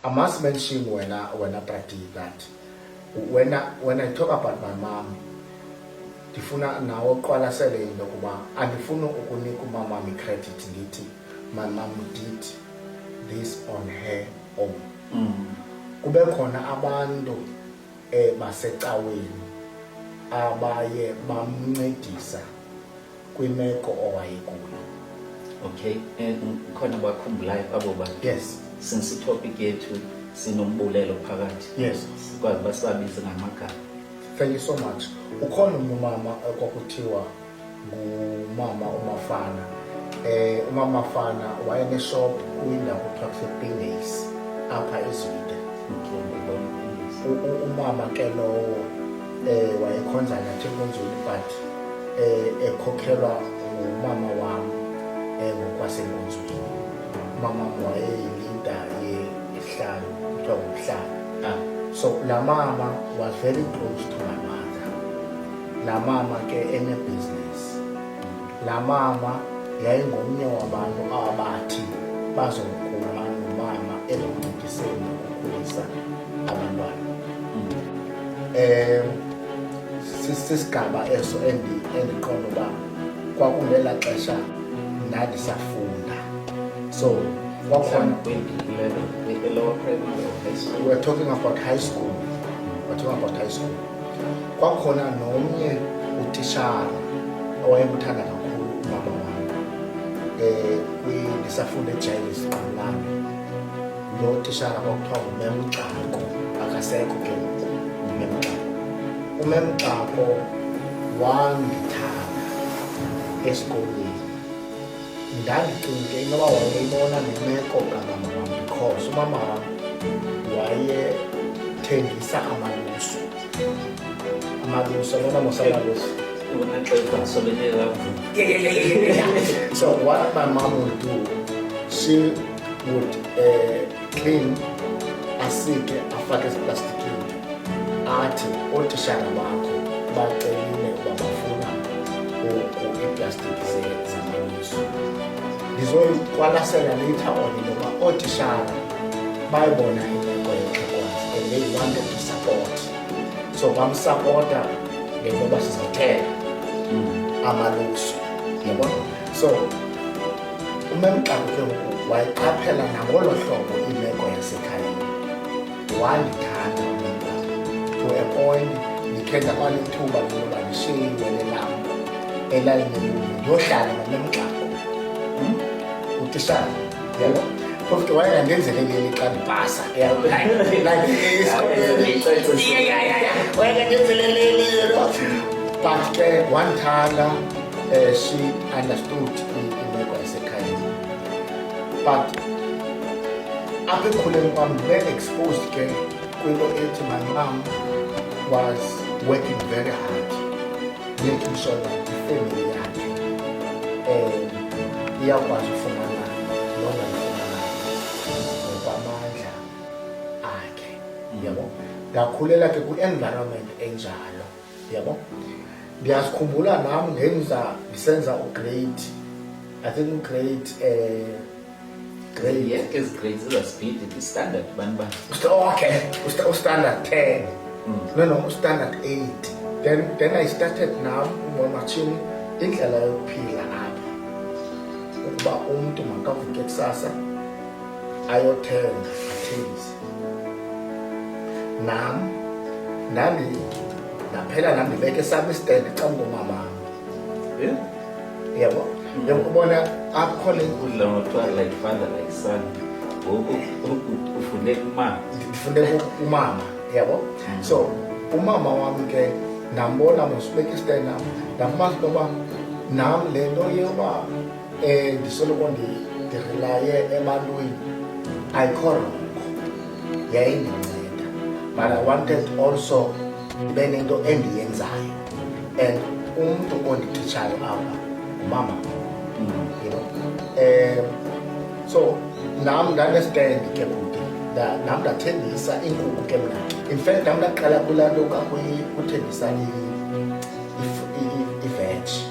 I must mention when I, when I practice that when I, when I talk about my mom ndifuna nawo uqwalasele into yokuba andifuni ukunika umamam icredit ndithi my mom did this on her own mm. kube khona abantu eh, basecaweni abaye bamncedisa kwimeko owayekuyo okay eh, khona bakhumbulayo abo ba yes since itopic yethu sinombulelo phakathi yes sikwazi uba sibabize ngamagama thank you so much ukhona umntu umama eh, kwakuthiwa ngumama umafana eh umama fana wayeneshop kwindawo kuthiwa kusepindays apha ezwide umama ke lowo eh wayekhonza nathi eNkonzweni but eh ekhokhelwa ngumama wam eh ngokwaseNkonzweni umama wayeyilinda yehlanu kuthiwa ngumhlanu ah. so la mama was very close to my mother la mama ke enebusiness la mama yayingomnye wabantu abathi bazokuma nomama ezoncediseni ukukhulisa Eh sisigaba eso endi endiqonda uba kwakungela xesha ndandisafunda so kwakhona we're talking about high school we're talking about high school kwakhona nomnye utishara owayemthanda kakhulu ubaba wami um eh, ndisafunda ejayilis qolami lo tishara kwakuthiwa ngumemgxako akasekho ke ngoku umemgxako umemgxako wandithanda esikolweni ndandicinge inoba wayeyibona nemeko kamama wam because umama wam wayethengisa amalusu amalusu abona mosamalusu so what my mom would do she would uh, clean asike afake eziplastikini athi ootishara bakho bacelile uba bafuna oku iiplastiki zamamiso ndizoyiqwalasela later on into yoba ootishara bayibona imeko yexhekwazi and they wanted to support so bamsapota ngento yoba sizothela amaluso yabona so umemqabuke ngoku wayiqaphela nangolo hlobo imeko yasekhayeni wandithanda umnta to a point ndikhe ndabana ithuba loba ndishiye iwele lam elalinelulu ndiyohlala nomemqabu hmm? utishana yalo phofu ke wayengandenzele leli xa ndibhasa wayengandenzele leli but ke wandithanda um she understood imeko yasekhayeni but apha ekukhuleni kwam ndibe-exposed ke kwinto ethi my mom was working very hard making sure that ifemeli yakhe um iyakwazi ufumana lona ngokwamandla akhe yabo ndakhulela ke kwi-environment enjalo yabo ndiyasikhumbula nam ngenza ndisenza ugrade i think ugrade um grade ezi grade zezaspeed ndistandard bantu ba okay ustandard ten mm. no no ustandard eight then then i started nam ngomatshini indlela yokuphila apha ukuba umntu makavuke kusasa ayothenga athengise nam nami naphela nam ndibeke esam isitende xa mngomama eh? yabo njengoba ubona apho khona ukudla ngothiwa like father like son ngoku ufunde kumama ndifunde kumama yabo mm. so umama wam ke ndambona mosibeka isitende nam ndambona uba nam le nto yoba Eh, ndisoloko ndidirelaye ebantwini ayikho rongo yayindinceda but i wanted also ndibe nento endiyenzayo and umntu ondititshayo apha ngumama you know um so nam ndanesitendi ke kude nam ndathengisa iinkukhu ke mna in fact nam ndaqala kulaa nto kakuthengisa iveji